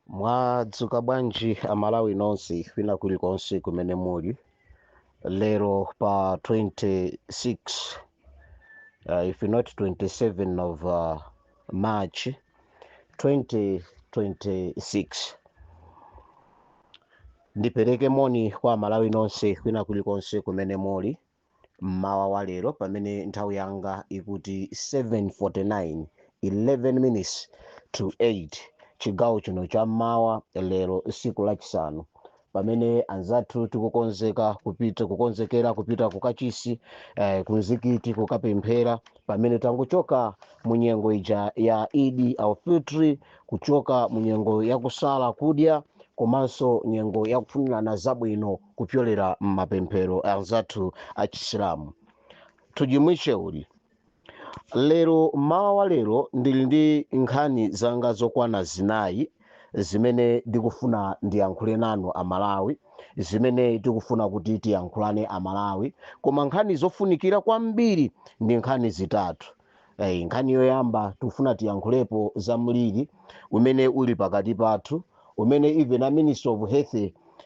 mwadzuka bwanji amalawi nonse kwina kulikonse kumene muli lero pa 26 uh, if not 27 of uh, march 2026 ndipereke moni kwa amalawi nonse kwina kulikonse kumene muli M'mawa wa lero pamene nthawi yanga ikuti 7:49, 11 minutes to 8 chigawo chino cha m'mawa lero tsiku lachisanu pamene anzathu tikukonzeka kupita kukonzekera kupita ku kachisi eh, ku mzikiti kukapemphera pamene tangochoka mu nyengo ija ya eid ul fitr kuchoka mu nyengo ya kusala kudya komanso nyengo ya kufunirana zabwino kupyolera m'mapemphero anzathu a chisilamu tujimwiche uli lero mmawa wa lero ndili ndi nkhani zanga zokwana zinayi zimene ndikufuna ndiyankhule nanu amalawi zimene tikufuna kuti tiyankhulane amalawi koma nkhani zofunikira kwambiri ndi nkhani zitatu Eh, nkhani yoyamba tikufuna tiyankhulepo za mliri umene uli pakati pathu umene even a minister of health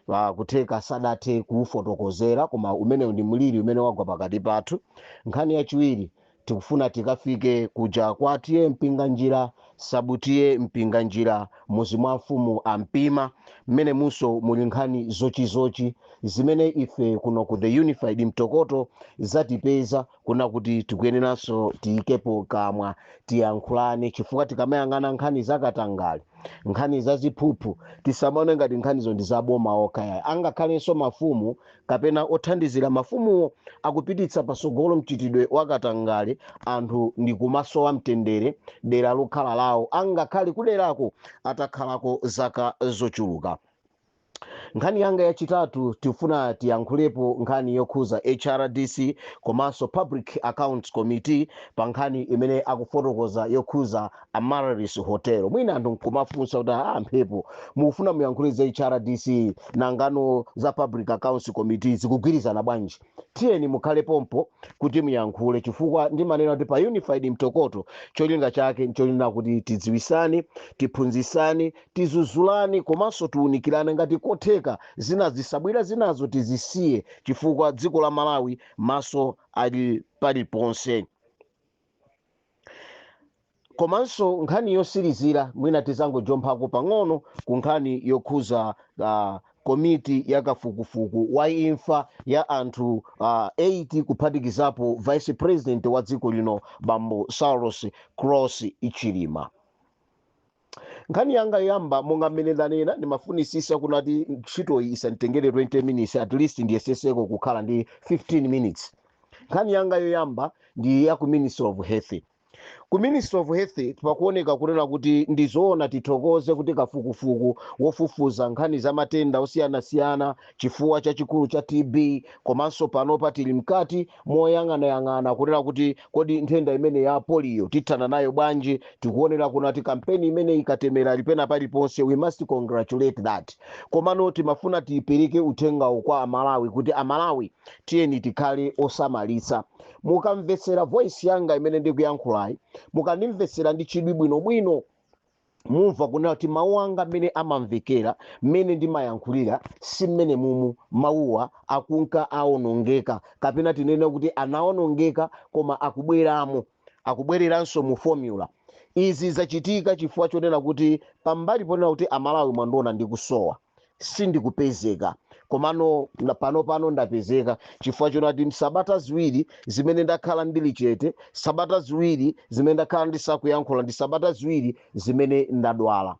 uh, kutheka sadathe kuufotokozera koma umenewu ndi mliri umene wagwa pakati pathu nkhani yachiwiri tikufuna tikafike kuja kwa T/A mpinganjira sub T/A mpinganjira muzi mwa mfumu ampima mmenemunso muli nkhani zochititsa chidwi zimene ife kuno ku the unified mtokoto zatipeza kuona kuti tikuyeneranso tiyikepo kamwa tiyankhulane chifukwa tikamayang'ana nkhani zakatangale nkhani zaziphuphu tisamaone ngati nkhanizo ndi zaboma okha ayi angakhalenso mafumu kapena othandizira mafumuwo akupititsa pasogolo mchitidwe wakatangale anthu ndi kumasowa mtendere dera lokhala lawo angakhale kuderako atakhalako zaka zochuluka nkhani yanga yachitatu tifuna tiyankhulepo nkhani yokhuza hrdc komanso public accounts committee pa nkhani imene akufotokoza yokhuza amaryllis hotel mwina anthu nkumafunsa kuti a mphepo mukufuna muyankhule za hrdc nanga za public accounts committee zikugwirizana bwanji tiyeni mukhale pompo kuti muyankhule chifukwa ndimanena kuti pa unified mtokoto cholinga chake nchoona kuti tidziwisane tiphunzisane Tizuzulane komanso tiunikilane ngati kotheka zina zitsabwila zinazo tizisiye chifukwa dziko la Malawi maso ali paliponse. Komanso nkhani yosilizila mwina tizangojomphako pang'ono ku nkhani yokhuza uh, komiti ya kafukufuku wa imfa ya anthu uh, 8 kuphatikizapo vice president wa dziko lino bambo Saulos Klaus Chilima. nkhani yanga yoyamba monga mmene ndanena ndimafunisisa kunati ntchitoyi isanditengere 20 minutes at least ndiyeseseko kukhala ndi 15 minutes nkhani yanga yoyamba ndi ya ku ministry of health ku ministry of health pakuoneka kunena kuti ndi zoona tithokoze kuti kafukufuku wofufuza nkhani za matenda osiyanasiyana chifuwa chachikulu cha tb komanso panopa tili mkati moyang'anayang'ana kunena kuti kodi nthenda imeneyi ya polio tithana nayo bwanji tikuonera kunati kampeni imeneyi katemera lipena paliponse we must congratulate that komano timafuna tipereke uthengawu kwa amalawi kuti amalawi tiyeni tikhale osamalitsa mukamvetsera voice yanga imene ndikuyankhulayi mukandimvetsera ndi chidwi bwinobwino mumva kunena kuti mawu anga mmene amamvekera mmene ndimayankhulira si mmene mumu mawuwa akunka aonongeka kapena tinene kuti anaonongeka koma akubweramo akubwereranso mu formula izi zachitika chifukwa chonena kuti pambali ponena kuti amalawi mwandiona ndikusowa sindikupezeka komano panopano ndapezeka chifukwa chonati sabata ziwiri zimene ndakhala ndili chete sabata ziwiri zimene ndakhala ndisakuyankhula ndi sabata ziwiri zimene ndadwala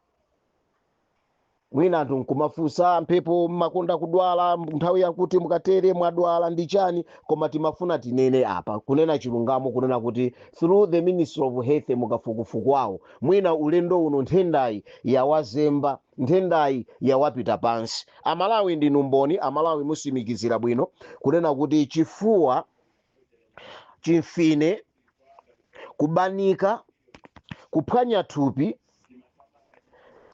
mwina anthu nkumafunsa mphepo mmakonda kudwala nthawi yakuti mukatere mwadwala ndi chani koma timafuna tinene apa kunena chilungamo kunena kuti through the ministry of health mukafukufuku wawo mwina ulendo uno nthendayi yawazemba Nthendayi yawapita pansi amalawi ndinu mboni amalawi mutsimikizira bwino kunena kuti chifuwa chimfine kubanika kuphwanya thupi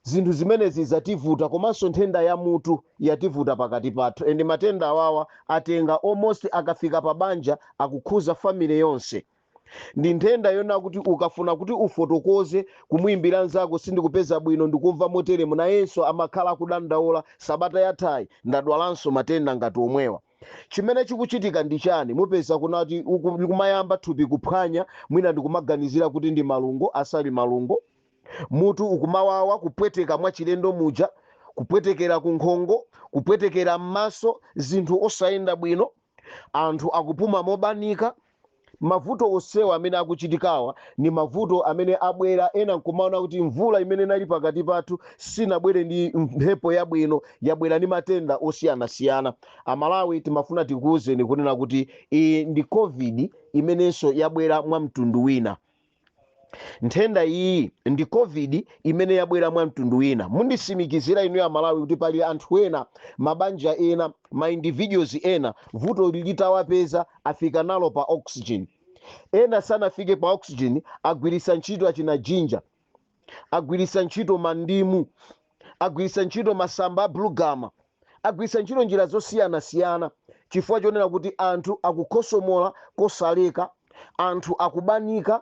zinthu zimenezi zativuta komanso nthenda ya mutu yativuta pakati pathu and matenda awawa atenga almost akafika pa banja akukhuza family yonse ndi nthenda yona kuti ukafuna kuti ufotokoze kumuimbira mnzako sindikupeza bwino ndikumva moteremu nayenso amakhala akudandaula sabata yathayi ndadwalanso matenda ngati omwewa chimene chikuchitika ndi chani mupeza kunati kumayamba thupi kuphwanya mwina ndikumaganizira kuti ndi malungo asali malungo mutu ukumawawa kupweteka mwachilendo muja kupwetekera kunkhongo kupwetekera m'maso zinthu osayenda bwino anthu akupuma mobanika. Mavuto onsewa amene akuchitikawa ndi mavuto amene abwera, ena n'kumaona kuti mvula imene inali pakati pathu sinabwere ndi mphepo yabwino, yabwera ndi matenda osiyanasiyana. Amalawi timafuna tikuuzeni kunena kuti iyi ndi Covid imenenso yabwera mwa mtundu wina. nthenda iyi ndi covid imene yabwera mwa mtundu wina mundisimikizira inuyo amalawi kuti pali anthu ena mabanja ena ma individuals ena vutoli litawapeza afika nalo pa oxygen ena sanafike pa oxygen agwiritsa ntchito achina jinja agwiritsa ntchito mandimu agwiritsa ntchito masamba a bulugama, agwiritsa ntchito njira zosiyanasiyana chifukwa chonena kuti anthu akukhosomola kosaleka, anthu akubanika,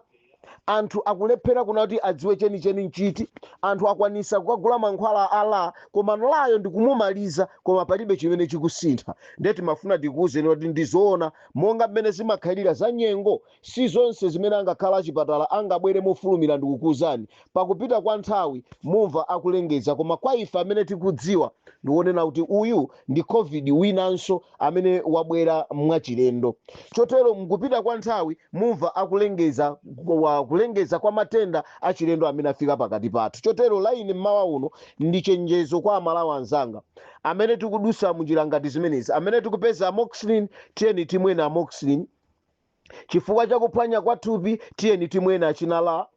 anthu akulephera kuna kuti adziwe chenicheni nchiti, anthu akwanisa kukagula mankhwala a la komano layo ndikumumaliza koma palibe chimene chikusintha. Ndiye timafuna tikuwuzeni kuti ndizoona monga mmene zimakhalira za nyengo Si zonse zimene angakhale achipatala angabwere mofulumira ndikukuuzani. Pakupita kwa nthawi mumva akulengeza koma kwa ife amene tikudziwa ndiwonena kuti uyu ndi Covid winanso amene wabwera mwachilendo. Chotero mkupita kwa nthawi mumva akulengeza kulengeza kwa matenda achilendo amene afika pakati pathu. Chotero la ine mmawa uno ndi chenjezo kwa Amalawi anzanga. Amene tikudutsa munjira ngati zimenezi, amene tikupeza amoxicillin tiyeni timweni amoxicillin. Chifukwa cha kuphwanya kwa thupi, tiyeni timweni achina la,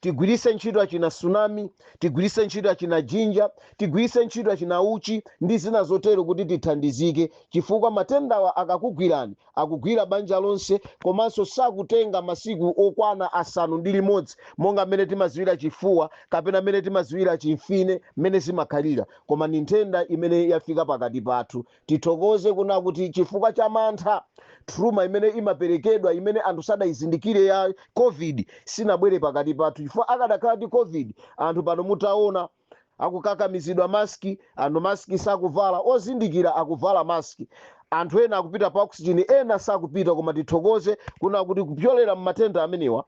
tigwiritse ntchito achina tsunami, tigwiritse ntchito achina jinja, tigwiritse ntchito achina uchi ndi zina zotero kuti tithandizike chifukwa matendawa akakugwirani akugwira banja lonse komanso sakutenga masiku okwana asanu ndi limodzi monga mmene timadziwira chifuwa kapena mmene timadziwira chimfine mmene zimakhalira koma ndi nthenda imene yafika pakati pathu Tithokoze kuna kuti chifukwa cha mantha, trauma imene imaperekedwa imene anthu sadaizindikire ya Covid sinabwere pakati pathu chifukwa akadakhala ndi Covid anthu pano mutaona akukakamizidwa mask, anthu mask sakuvala, ozindikira akuvala mask, anthu ena akupita pa oxygen ena sakupita koma tithokoze kuna kuti kupyolera mmatenda amenewa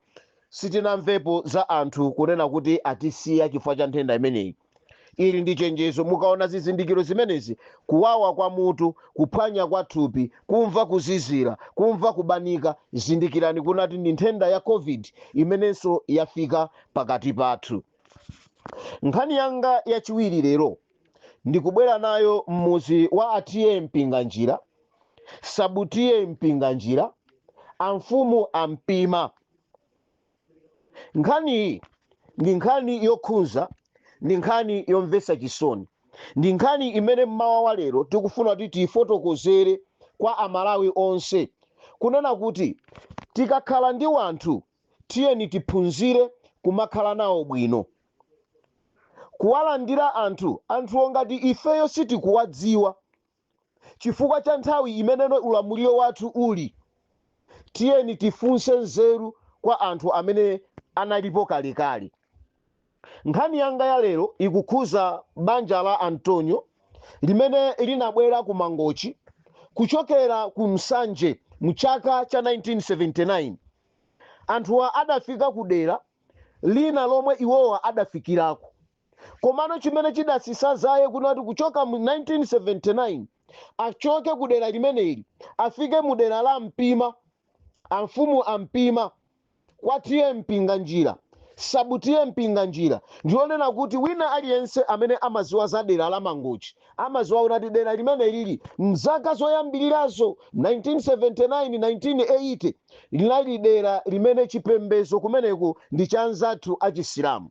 sitinamvepo za anthu kunena kuti atisiya chifukwa cha nthenda imeneyi. ili ndi chenjezo mukaona zizindikiro zimenezi kuwawa kwa mutu kuphwanya kwa thupi kumva kuzizira kumva kubanika zindikirani kunati ndi nthenda ya covid imenenso yafika pakati pathu nkhani yanga yachiwiri lero ndikubwera nayo mmuzi wa a t/a mpinganjira sub t/a mpinganjira amfumu a mpima nkhani iyi ndi nkhani yokhunza ndi nkhani yomvetsa chisoni ndi nkhani imene mmawa wa lero tikufuna kuti tiyifotokozere kwa amalawi onse kunena kuti tikakhala ndi wanthu tiyeni tiphunzire kumakhala nawo bwino kuwalandira anthu anthuwo ngati ifeyo sitikuwadziwa chifukwa cha nthawi imene ulamuliro wathu uli, tiyeni tifunse nzeru kwa anthu amene analipo kalekale. Nkhani yanga ya lero ikukhuza banja la Antonio limene linabwera ku Mangochi kuchokera ku Nsanje mchaka cha 1979. Anthuwa adafika ku dera lina lomwe iwowa adafikirako. komano chimene chidasisa zake kunati kuchoka mu 1979 achoke ku dera limeneli afike mu dera la Mpima amfumu a Mpima kwa T/A Mpinganjira Sub T/A Mpinganjira ndionena kuti wina aliyense amene amaziwa za dera la mangochi amaziwa kuti dera limeneli mzaka zoyambirirazo 1979 1980 linali dera limene chipembezo kumeneko ndi cha anzathu achisilamu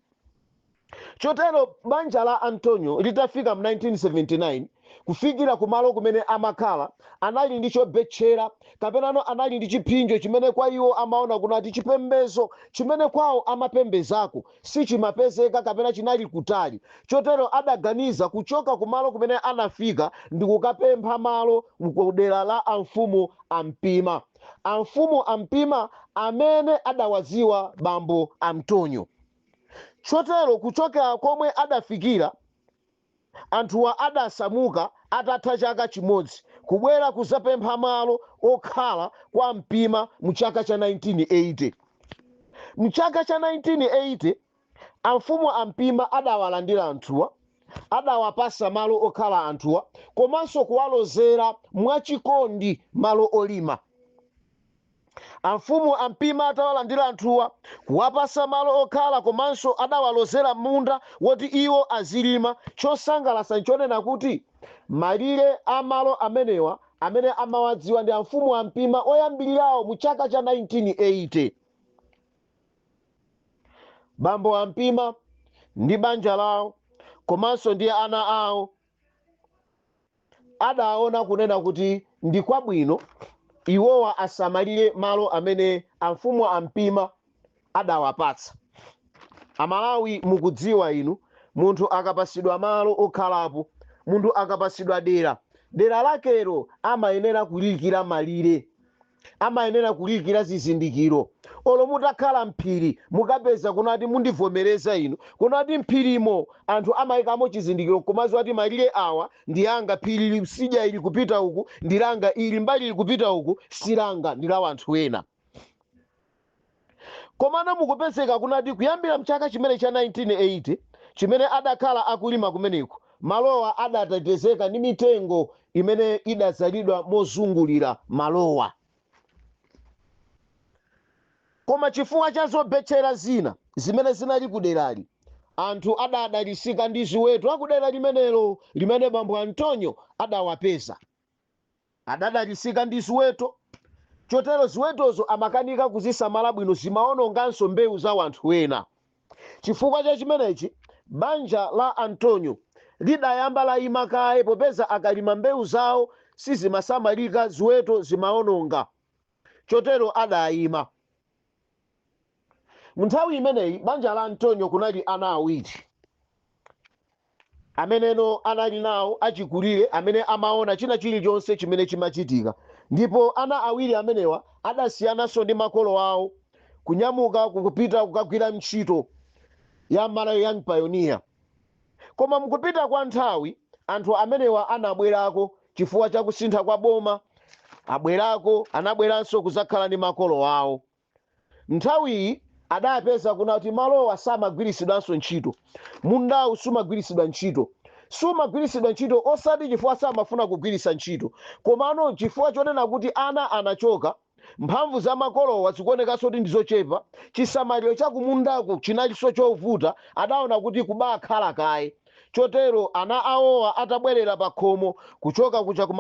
Chotero banja la Antonio litafika mu 1979, kufikira kumalo kumene amakhala, anali ndi chobetchera, kapenanso anali ndi chiphinjo chimene kwa iwo amaona kunati chipembezo chimene kwao amapembezako sichimapezeka kapena chinali kutali. Chotero adaganiza kuchoka kumalo kumene anafika ndikukapempha malo ku dera la amfumu a Mpima. Amfumu a Mpima amene adawadziwa bambo Antonio. chotero kuchokera komwe adafikira anthuwa adasamuka atatha chaka chimodzi kubwera kuzapempha malo okhala kwa Mpima mchaka cha 1980 mchaka cha 1980 amfumu a Mpima adawalandira anthuwa adawapasa malo okhala anthuwa komanso kuwalozera mwachikondi malo olima Amfumu a Mpima atawalandira anthuwa, kuwapasa malo okhala komanso adawalozera munda woti iwo azilima. Chosangalasa nchonena kuti malire a malo amenewa amene amawadziwa ndi amfumu a Mpima oyambilirawo mu chaka cha 1980. Bambo a Mpima ndi banja lawo komanso ndi ana awo, adaona kunena kuti ndi kwabwino iwowa asamalire malo amene amfumu a Mpima adawapatsa aMalawi mukudziwa inu munthu akapasidwa malo okhalapo munthu akapasidwa dera dera lakelo amayenera kuliikira malire amayenera kuliyikira zizindikiro olo mutakhala mphiri mukapeza kunati mundivomereza inu kunati mphirimo anthu amayikamo chizindikiro nkumaziwa kuti malire awa ndi anga phiri ili sidya ili kupita uku ndi langa ili mbali ili kupita uku si langa ndi la anthu ena Komano mukupezeka kunati kuyambira mchaka chimene cha 1980 chimene adakhala akulima kumeneko, malowa adatetezeka ndi mitengo imene idadzalidwa mozungulira malowa. Koma chifukwa cha zobetchera zina zimene zinali kuderali, anthu adadalitsika ndi ziweto akudera limenelo limene bambo Antonyo adawapeza. Adadalitsika ndi ziweto, chotero ziwetozo amakanika kuzisamala bwino, zimawononganso mbewu za wanthu ena. Chifukwa cha chimenechi, banja la Antonyo lidayamba layima kaye popeza akalima mbewu zawo sizimasamalika, ziweto zimawononga. Chotero adayima. Mu nthawi imeneyi, banja la Antonyo kunali ana awiri. ameneno anali nawo achikulire amene amaona china chilichonse chimene chimachitika, ndipo ana awiri amenewa adasiyananso ndi makolo awo kunyamuka kupita kukagwira ntchito ya Malawi Young Pioneer. Koma mukupita kwa nthawi, anthu amenewa anabwerako chifukwa cha kusintha kwa boma, abwerako anabweranso kudzakhala ndi makolo awo. Nthawiyi adapeza kunati malowa samagwiritsidwanso ntchito. Mundawu sumagwiritsidwa ntchito. Sumagwiritsidwa ntchito osati chifukwa samafuna kugwiritsa ntchito komano chifukwa chonena kuti ana anachoka, mphamvu za makolowa zikuonekanso kuti ndi zochepa, chisamaliro cha kumundaku chinalinso chovuta, adaona kuti kubakhala kaye. Chotero ana awowa atabwerera pakhomo kuchoka kuja ku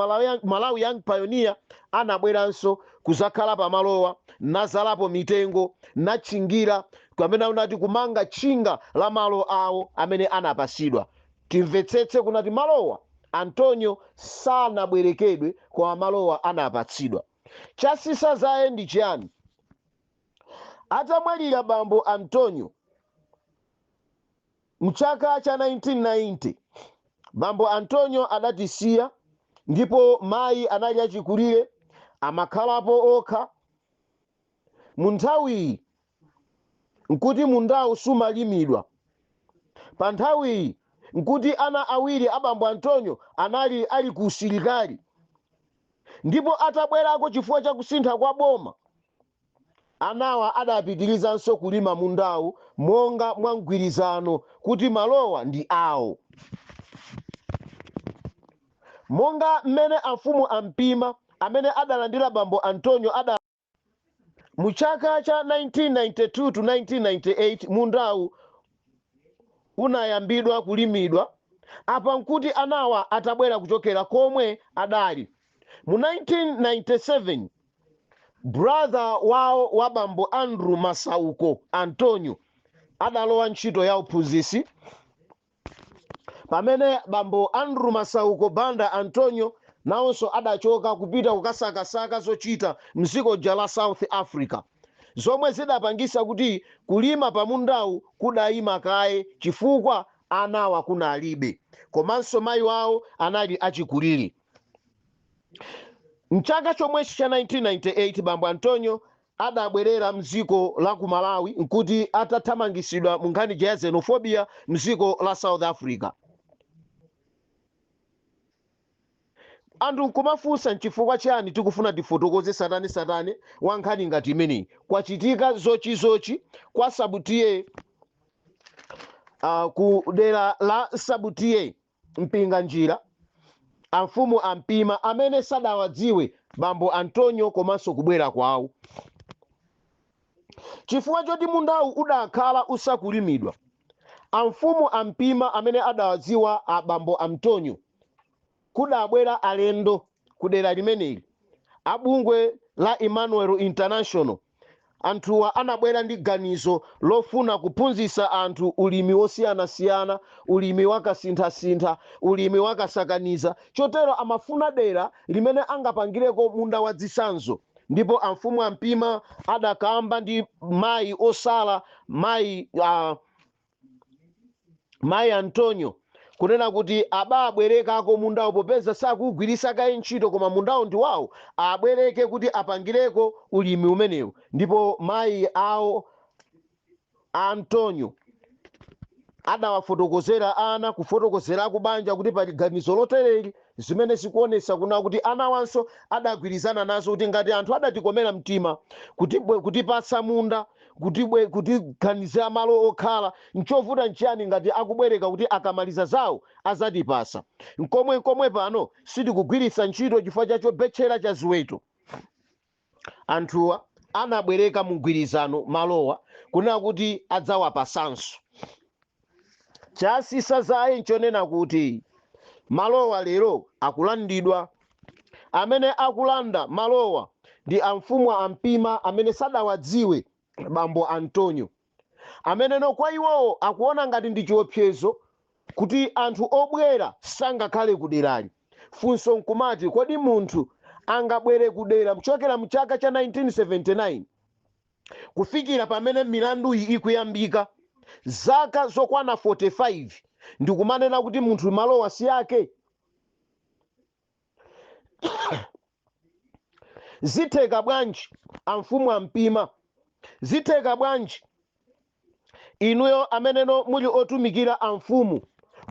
Malawi Young Pioneer anabweranso kuzakhala pamalowa nazalapo mitengo natchingira kapena unati kumanga tchinga la malo awo amene anapasidwa. Timvetsetse kunati malowa Antonyo sanabwerekedwe koma malowa anapatsidwa. Chatsitsa dzaye ndi chiyani? Atamwalira bambo Antonyo M'chaka cha 1990, bambo Antonyo adatisiya ndipo mayi anali achikulire amakhalapo okha. Munthawiyi nkuti mundawu sumalimidwa. Panthawiyi nkuti ana awiri a bambo Antonyo anali ali ku usilikali ndipo atabwerako chifukwa cha kusintha kwa boma. Anawa adapitilizanso kulima mundawu monga mwa mgwirizano kuti malowa ndi awo. Monga mmene amfumu a Mpima amene adalandira bambo Antonyo adalonjeza, mu chaka cha 1992 to 1998 mundawu unayambidwa kulimidwa, apa nkuti anawa atabwera kuchokera komwe adali mu 1997. Brother wawo wa bambo Andrew Masauko Antonio adalowa ntchito ya uphunzitsi pamene bambo Andrew Masauko Banda Antonio nawonso adachoka kupita kukasakasaka zochita m'dziko la South Africa zomwe zidapangisa kuti kulima pamundawu kudayima kaye chifukwa anawa kunalibe komanso mayi wawo anali achikulire. M'chaka chomwechi cha 1998, bambo Antonio adabwerera m'dziko la ku Malawi n'kuti atathamangitsidwa mu nkhani ija ya xenophobia m'dziko la South Africa. Anthu nkumafunsa n'chifukwa chiyani tikufuna tifotokoze satane-satane wa nkhani ngati imeneyi. Kwachitika zochizochi kwa Sub T/A ah, ku dera la Sub T/A Mpinganjira, amfumu a Mpima amene sadawadziwe bambo Antonio komanso kubwera kwawo. Chifukwa choti mundawu udakhala usakulimidwa, amfumu a Mpima amene adawadziwa a bambo Antonio kudabwera alendo kudera limeneli a bungwe la Emmanuel International, Anthuwa anabwera ndi ganizo lofuna kuphunzitsa anthu ulimi wosiyanasiyana, ulimi wa kasinthasintha, ulimi wa kasakaniza, chotero amafuna dera limene angapangireko munda wa dzitsanzo ndipo amfumu a Mpima adakamba ndi mayi osala mayi a. mayi antonio kunena kuti ababwerekako mundawo popeza sakuugwirisa kaye ntchito koma mundawo ndi wawo abwereke kuti apangireko ulimi umenewu ndipo mayi awo a antonio adawafotokozera ana kufotokozera akubanja kuti pali ganizo lotereli zimene zikuonesa kuna kuti anawanso adagwirizana nazo kuti ngati anthu adatikomera mtima kutipatsa munda kutiganizira malo okhala nchovuta nchiyani ngati akubwereka kuti akamaliza zawo azatipasa nkomwe nkomwe pano sitikugwirisa ntchito chifukwa cha chobetchera cha ziweto anthuwa anabwereka mugwirizano malowa kunena kuti adzawapasanso. Chatsitsa dzaye nchonena kuti malowa lero akulandidwa. Amene akulanda malowa ndi amfumu a Mpima amene sadawadziwe bambo Antonio ameneno kwa iwowo akuona ngati ndi chiopsezo kuti anthu obwera sangakhale kuderali. Funso nkumati kodi munthu angabwere kudera kuchokera mchaka cha 1979? kufikira pamene milanduyi ikuyambika, zaka zokwana 45, ndikumanena kuti munthu malowa si ake? Zitheka bwanji amfumu a Mpima? Zitheka bwanji? inuyo ameneno muli otumikira amfumu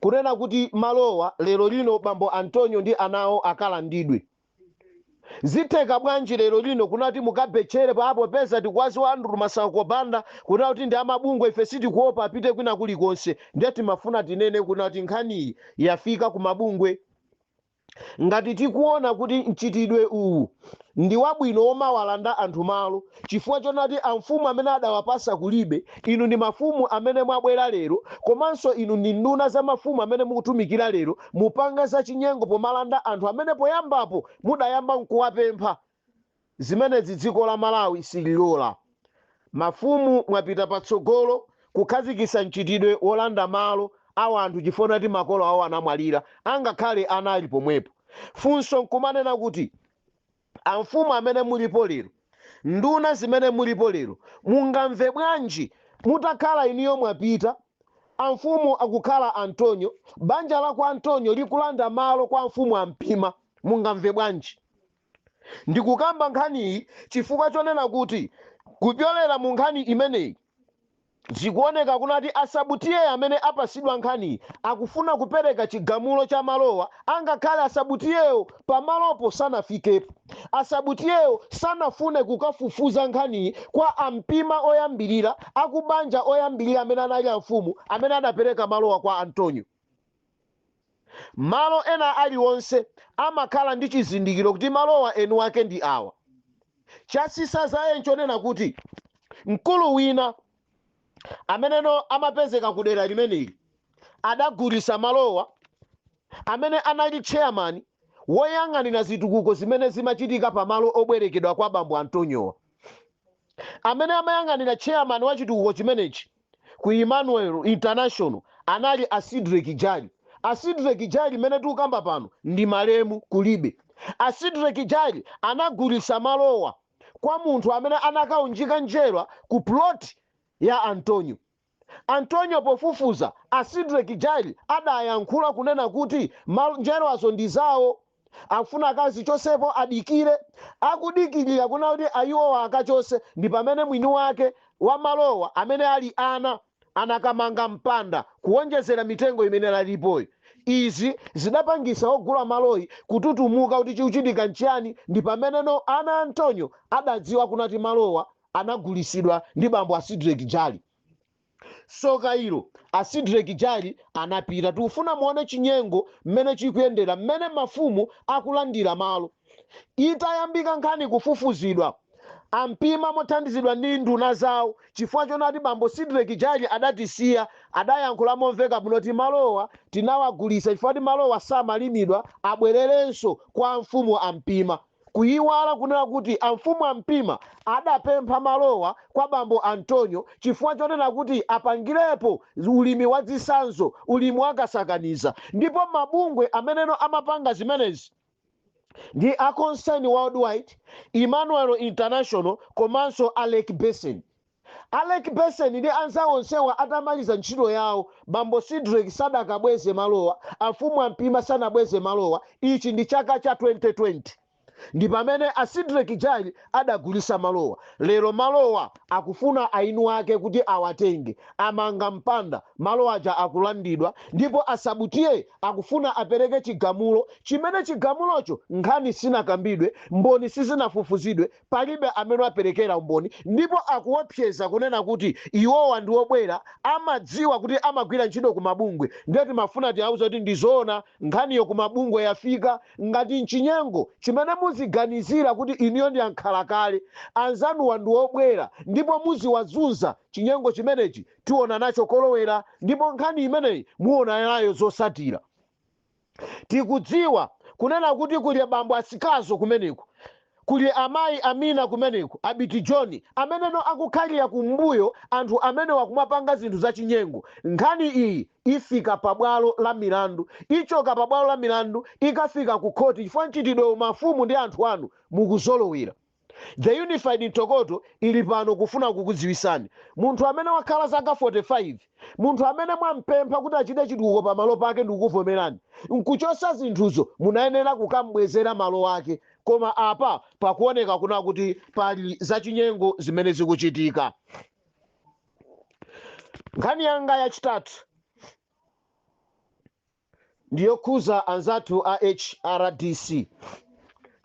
kunena kuti malowa lero lino bambo Antonyo ndi ana awo akalandidwe. Zitheka bwanji lero lino kunena kuti mukabetchere popeza tikuwaziwa Andrew Masauko Banda kunena kuti ndi amabungwe ife sitikuopa apite kwina kulikonse ndiye timafuna tinene kunena kuti nkhaniyi yafika kumabungwe. Ngati tikuona kuti mchitidwe uwu ndiwabwino womawalanda anthu malo chifukwa chonati amfumu amene adawapasa kulibe, inu ndi mafumu amene mwabwera lero komanso inu ndi nduna za mafumu amene mukutumikira lero mupanga zachinyengo pomalanda anthu amene poyambapo mudayamba nkuwapempha Zimenezi dziko la Malawi sililola. Mafumu mwapita patsogolo kukhazikitsa mchitidwe wolanda malo a wanthu chifukwa chonati makolo awo anamwalira angakhale ana ali pomwepo. Funso nkumanena kuti amfumu amene mulipo lero, nduna zimene mulipo lero mungamve bwanji mutakhala inuyo mwapita amfumu akukhala Antonyo, banja la kwa Antonyo likulanda malo kwa amfumu a Mpima. Mungamve bwanji? Ndikukamba nkhaniyi chifukwa chonena kuti kupyolera mu nkhani imeneyi zikuoneka kunati a sub T/A amene apasidwa nkhaniyi akufuna kupereka chigamulo cha malowa angakhale a sub T/A-wo pamalopo sanafikepo. A sub T/A-wo sanafune kukafufuza nkhaniyi kwa a Mpima oyambilira, akubanja oyambilira amene anali amfumu amene adapereka malowa kwa Antonyo. Malo ena aliwonse amakhala ndi chizindikiro kuti malowa eni wake ndi awa. Chatsitsa dzaye nchonena kuti mkulu wina ameneno amapezeka ku dera limeneli adagulitsa malowa amene anali tcheyamani woyang'anira zitukuko zimene zimachitika pa malo obwerekedwa kwa bambo Antoniowa. Amene amayang'anira tcheyamani wa chitukuko chimenechi ku Emmanuel International anali a Sidreck Jali. A Sidreck Jali mene tikukamba pano ndi malemu kulibe. A Sidreck Jali anagulitsa malowa kwa munthu amene anakaunjika njerwa ku plot ya Antonyo. Antonyo pofufuza a Sidreck Jali adayankhula kunena kuti njerwazo ndi zawo. Akufuna akazichosepo adikire akudikilira kuna kuti ayiwowa akachose ndipamene mwini wake wa malowa amene ali ana anakamanga mpanda kuwonjezera mitengo imene ilipoyi izi zidapangisa ogula maloyi kututumuka kuti chikuchitika nchiyani ndi pameneno ana a Antonyo adadziwa kunati malowa anagulisidwa ndi bambo a Sidreck Jali. soka ilo a sidrek jali anapita tikufuna muone chinyengo mmene chikuyendera mmene mafumu akulandira malo itayambika nkhani kufufuzidwa a Mpima mothandizidwa ndi nduna zawo chifukwa chonati bambo sidrek jali adatisiya adayankhula momveka bwino kuti malowa tinawagulisa chifukwa kuti malowa samalimidwa abwererenso kwa amfumu a Mpima Kuyiwala kunena kuti amfumu a Mpima adapempha malowa kwa bambo Antonyo chifukwa chonena kuti apangirepo ulimi wa zisanzo ulimi wa kasakaniza ndipo mabungwe ameneno amapanga zimenezi ndi a Concern Worldwide, Emmanuel International komanso a Lake Basin. A Lake Basin ndi anzawo onsewa atamaliza ntchito yawo, bambo Sidreck sadakabweze malowa, amfumu a Mpima sanabweze malowa, ichi ndi chaka cha 2020 ndi pamene a Sidreck Jali adagulisa malowa, lero malowa akufuna eni wake kuti awatenge, amanga mpanda, malo aja akulandidwa ndipo a Sub T/A akufuna apereke chigamulo chimene chigamulocho nkhani sinakambidwe, mboni sizinafufuzidwe, Palibe amene wapereka umboni ndipo akuopseza kunena kuti iwowa ndi obwera, amadziwa kuti amagwira ntchito ku mabungwe ndiye timafuna tiwauze kuti ndi zoona nkhaniyo ku mabungwe yafika, ngati nchinyengo chimene muziganizira kuti inuyo ndi ankhalakale, anzanuwa ndi obwera ndipo muziwazunza chinyengo chimenechi tiona nacho kolowera ndipo nkhani imeneyi muona nayo zosatira. tikudziwa kunena kuti kuli abambo a Sikazo kumeneko, kuli amayi Amina kumeneko, Abiti Joni, ameneno akukhalira kumbuyo anthu amenewa kumapanga zinthu za chinyengo, nkhani iyi ifika pa bwalo la milandu, ichoka pa bwalo la milandu ikafika ku khoti chifukwa mchitidwewu mafumu ndi anthu anu mukuzolowera. The unified Ntokoto ili pano kufuna kukudziwisani munthu amene wakhala zaka 45 munthu amene mwampempha kuti achite chitukuko pa malo pake ndikukuvomerani nkuchosa zinthuzo munayenera kukam'bwezera malo ake koma apa pakuoneka kuna kuti pali zachinyengo zimene zikuchitika nkhani yanga yachitatu ndiyokhuza anzathu a HRDC.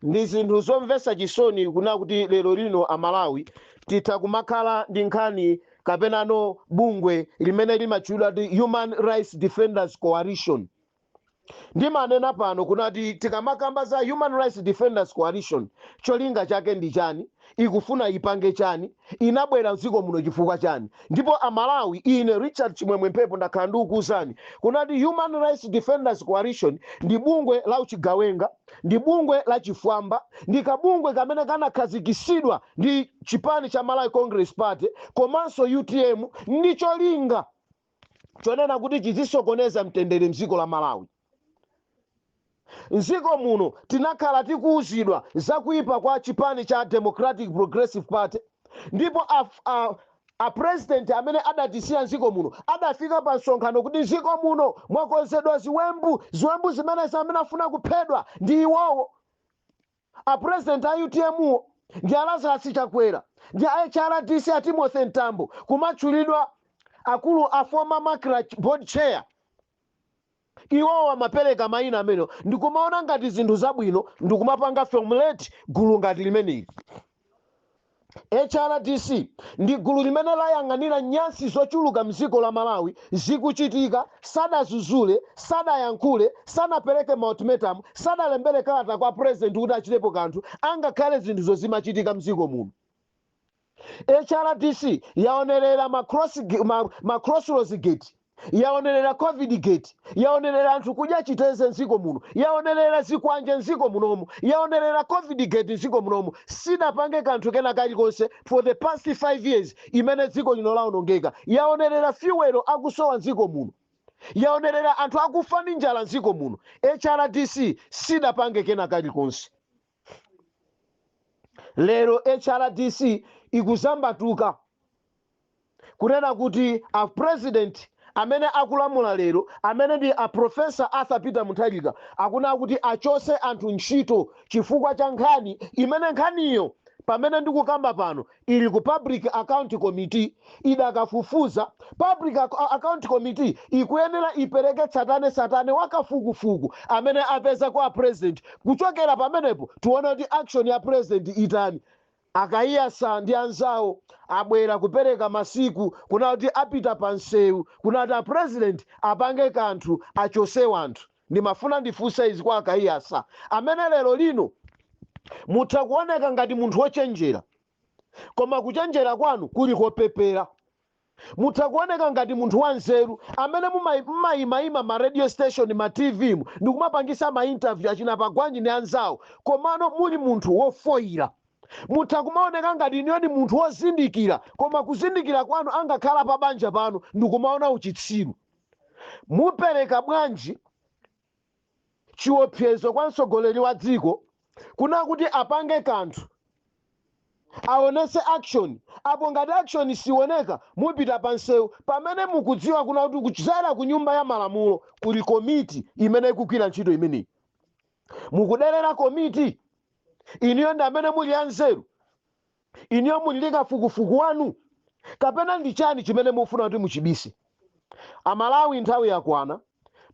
Ndi zinthu zomvesa chisoni kuna kuti lero lino a Malawi titha kumakhala ndi nkhani kapenano bungwe limene limatchulidwa kuti Human Rights Defenders Coalition. Ndimanena pano kunati tikamakamba za Human Rights Defenders Coalition cholinga chake ndi chani? ikufuna ipange chani? Inabwera mdziko muno chifukwa chani? Ndipo a Malawi ine Richard Chimwemwe Mphepo ndakhala ndikukuuzani kunati Human Rights Defenders Coalition ndi bungwe la uchigawenga, ndi bungwe la chifwamba, ndi kabungwe kamene kanakhazikisidwa ndi chipani cha Malawi Congress Party komanso utm ndi cholinga chonena kuti chizisokoneza mtendere mdziko la Malawi. M'dziko muno tinakhala tikuuzidwa za kuipa kwa chipani cha Democratic Progressive Party ndipo a, a, a president amene adatisiya m'dziko muno adafika pa msonkhano kuti m'dziko muno mwakonzedwa ziwembu, ziwembu zimenezi amene afuna kuphedwa ndi iwowo. A president a UTM ndi a Lazarus Chakwera ndi a HRDC a Timothy Mtambo kumatchulidwa akulu a former macra board chair iwowo amapereka maina amene ndikumaona ngati zinthu zabwino ndikumapanga formulate gulu ngati limeneli. HRDC ndi gulu limene layang'anira nyansi zochuluka mdziko la Malawi zikuchitika, sadazuzule, sadayankhule, sanapereke ma ultimatum, sadalembere kalata kwa president kuti achitepo kanthu angakhale zinthuzo zimachitika mdziko muno. HRDC yaonerera ma cross, ma, ma crossroads gate. yaonerera covid gate yaonerera anthu kudya chiteze mdziko muno yaonerera zikwanje mdziko munomu yaonerera covid gate mdziko munomu sidapange kanthu kena kalikonse for the past 5 years imene dziko lino laonongeka yaonerera fiwelo akusowa mdziko muno yaonerera anthu akufa ndi njala mdziko muno hrdc sidapange kena kalikonse lero hrdc ikuzambatuka kunena kuti a president amene akulamula lero amene ndi a professor arthur peter mutharika akuna kuti achose anthu ntchito chifukwa cha nkhani imene nkhaniyo pamene ndikukamba pano ili ku Public Account Committee idakafufuza. Public Account Committee ikuyenera ipereke tsatane tsatane wa kafukufuku amene apeza kwa President kuchokera pamenepo tiona kuti action ya President itani. A Kaiyatsa ndi anzawo abwera kupereka masiku kunena kuti apita pa mseu kunena kuti a President apange kanthu achose wanthu. Ndimafuna ndifunse izi kwa a Kaiyatsa, amene lero lino mutha kuoneka ngati munthu wochenjera, koma kuchenjera kwanu kuli kopepera. Mutha kuoneka ngati munthu wa nzeru, amene mumayimaima ma radio station, ma TV mu ndikumapangitsa ma interview achina Pagwanji ndi anzawo, komano muli munthu wofoira. Mutha kumaoneka ngati inuyo ndi munthu wozindikira, koma kuzindikira kwanu angakhala pa banja panu ndikumaona uchitsiru. Mupereka bwanji chiopsezo kwa mtsogoleri wa dziko kunena kuti apange kanthu aonese action apo ngati action sioneka mupita pa nsewu pamene mukudziwa kunena kuti kudzera ku nyumba ya malamulo kuli komiti imene ikugwira ntchito imeneyi mukuderera komiti inuyo ndi amene muli anzeru Inuyo muli ndi kafukufuku wanu kapena ndi chani chimene mufuna kuti muchibise? A Malawi nthawi yakwana,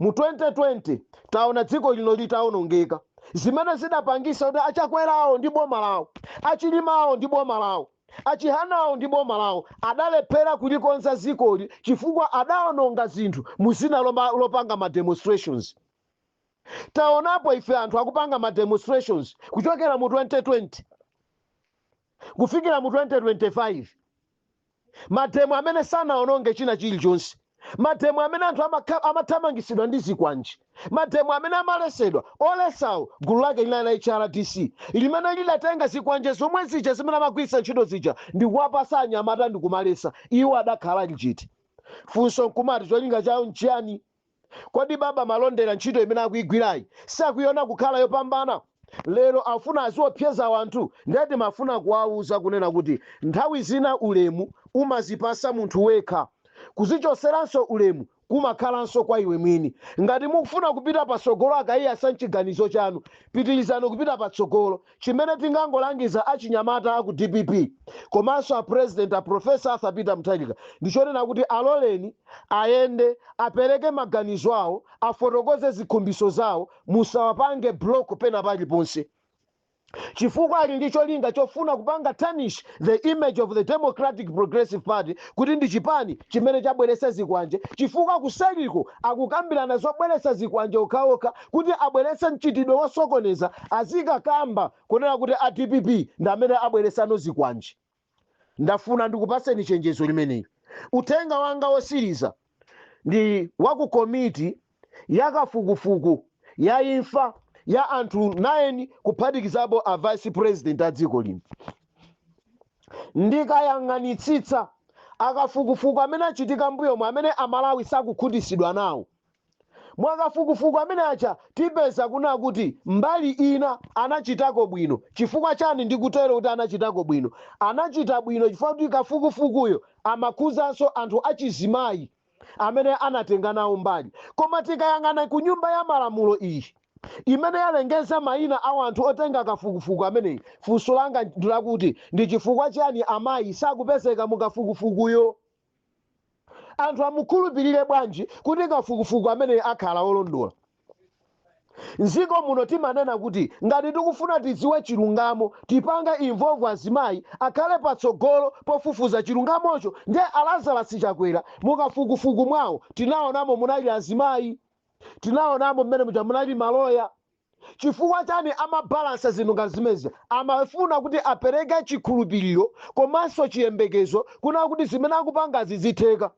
mu 2020 taona dziko lino litaonongeka, zimene zidapangisa kuti a Chakwerawo ndi boma lawo, a Chilimawo ndi boma lawo, a Chihanawo ndi boma lawo adalephera kulikonza dzikoli chifukwa adaononga zinthu mu dzina lopanga ma demonstrations. Taonapo ife anthu akupanga ma demonstrations kuchokera mu 2020 kufikira mu 2025, mademo amene sanaononge china chilichonse, mademo amene anthu amathamangisidwa ndi zikwanje, mademo amene amalesedwa, olesawo gulu lake linali la HRDC limene lidatenga zikwanje zomwe zija zimene amagwiritsa ntchito zija ndikuwapasa anyamata ndikumalesa, iwo adakhala lili chete. Funso nkumati cholinga chawo nchiyani? Kodi Baba Malondera ntchito imene akuigwirayi sakuiona kukhala yopambana? Lero afuna aziopseza wanthu? Ndiye timafuna kuwauza kunena kuti nthawi zina ulemu umazipasa munthu wekha. Kuzichoseranso ulemu kumakhalanso kwa iwe mwini. Ngati mukufuna kupita patsogolo a Kaiyatsa mchiganizo chanu, pitilizani kupita patsogolo. Chimene tingangolangiza achinyamata aku dpp komanso a President a Prof. Arthur Peter Mutharika ndi chonena kuti aloleni ayende, apereke maganizo awo, afotokoze zikhumbiso zawo, musawapange block pena paliponse chifukwa ali ndi cholinga chofuna kupanga tarnish the image of the Democratic Progressive Party kuti ndi chipani chimene chabweretsa zikwanje chifukwa kuseriko akukambirana zobweretsa zikwanje okhaokha kuti abweretse mchitidwe wosokoneza azikakamba kunena kuti a dpp ndi amene abweretsano zikwanje ndafuna ndikupatseni chenjezo limeneli uthenga wanga wosiriza ndi wa ku komiti ya kafukufuku ya imfa ya anthu 9 kuphatikizapo a vice president a dziko lino ndikayang'anitsitsa akafukufuku amene achitika mbuyomu amene amalawi sakukhutitsidwa nawo mwakafukufuku amene aja tipeza kuna kuti mbali ina anachitako bwino chifukwa chani ndikutero kuti anachitako bwino anachita bwino chifukwa kuti kafukufukuyo amakhuzanso anthu achizimayi amene anatenga nawo mbali. Koma tikayang'ana ku nyumba ya malamulo iyi imene yalengeza maina a wanthu otenga kafukufuku ameneyi, funso langa ndi lakuti ndi chifukwa chiyani amayi sakupezeka mu kafukufukuyo? Anthu amukhulupilire bwanji kuti kafukufuku ameneyi akhala wolondola? M'dziko muno timanena kuti ngati tikufuna tidziwe chilungamo tipanga involve azimayi akhale patsogolo pofufuza chilungamocho nde a Lazarus Chakwera mukafukufuku mwawo tinaonamo munali azimayi, tinaonamo mmene muja munali maloya. Chifukwa chani amabalansa zinthu ngati zimenezi? Amafuna kuti apereke chikhulupiliro komanso chiyembekezo kunena kuti zimene akupangazi zitheka.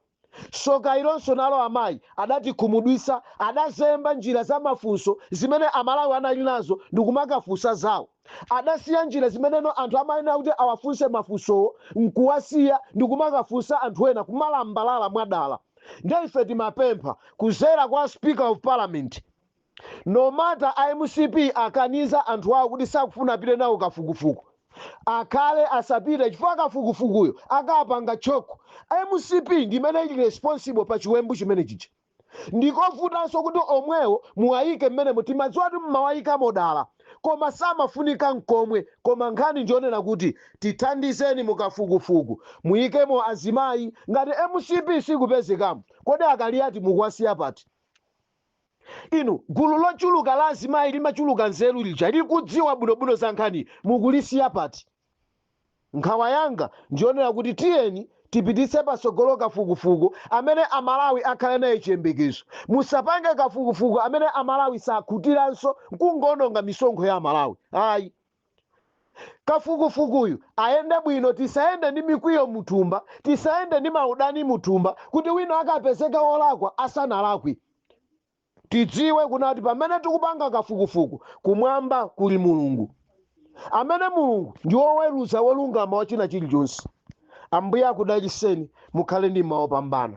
Soka ilonso nalo amayi adatikhumudwitsa, adazemba njira za mafunso zimene Amalawi anali nazo ndikumakafunsa zawo. Adasiya njira zimene anthu amayenera kuti awafunse mafunsowo n'kuwasiya ndikumakafunsa anthu ena, kumalambalala mwadala. Ndiye ife timapempha kudzera kwa Speaker of Parliament. No matter a mcp akukaniza anthu awo kuti sakufuna apite nawo kafukufuku akhale asapite chifukwa kafukufukuyo akapanga chock mcp ndimene ili responsible pa chiwembu chimene chija ndikovutanso kuti omwewo muwayike mmenemo timadziwa kuti mmawayikamo dala koma samafunika nkomwe koma nkhani njonena kuti tithandizeni mukafukufuku muyikemo azimayi ngati mcp sikupezekamo kodi a Kaliati mukuwasiya pati Inu, gulu lochuluka la azimayi limachuluka nzeru lija, likudziwa bwinobwino za nkhaniyi, mukulisiya pati? Nkhawa yanga ndi yonena kuti tiyeni tipititse patsogolo kafukufuku amene Amalawi akhale naye chiyembekezo. Musapange kafukufuku amene Amalawi sakhutiranso, n'kungoononga misonkho ya Amalawi, ayi. kafukufukuyu ayende bwino tisayende ndi mikwiyo muthumba tisayende ndi maudani muthumba kuti wina akapezeka wolakwa asanalakwe tidziwe kunena kuti pamene tikupanga kafukufuku kumwamba kuli mulungu amene mulungu ndi woweruza wolungama wa china chilichonse ambuye akudaliseni mukhale ndi mmawa opambana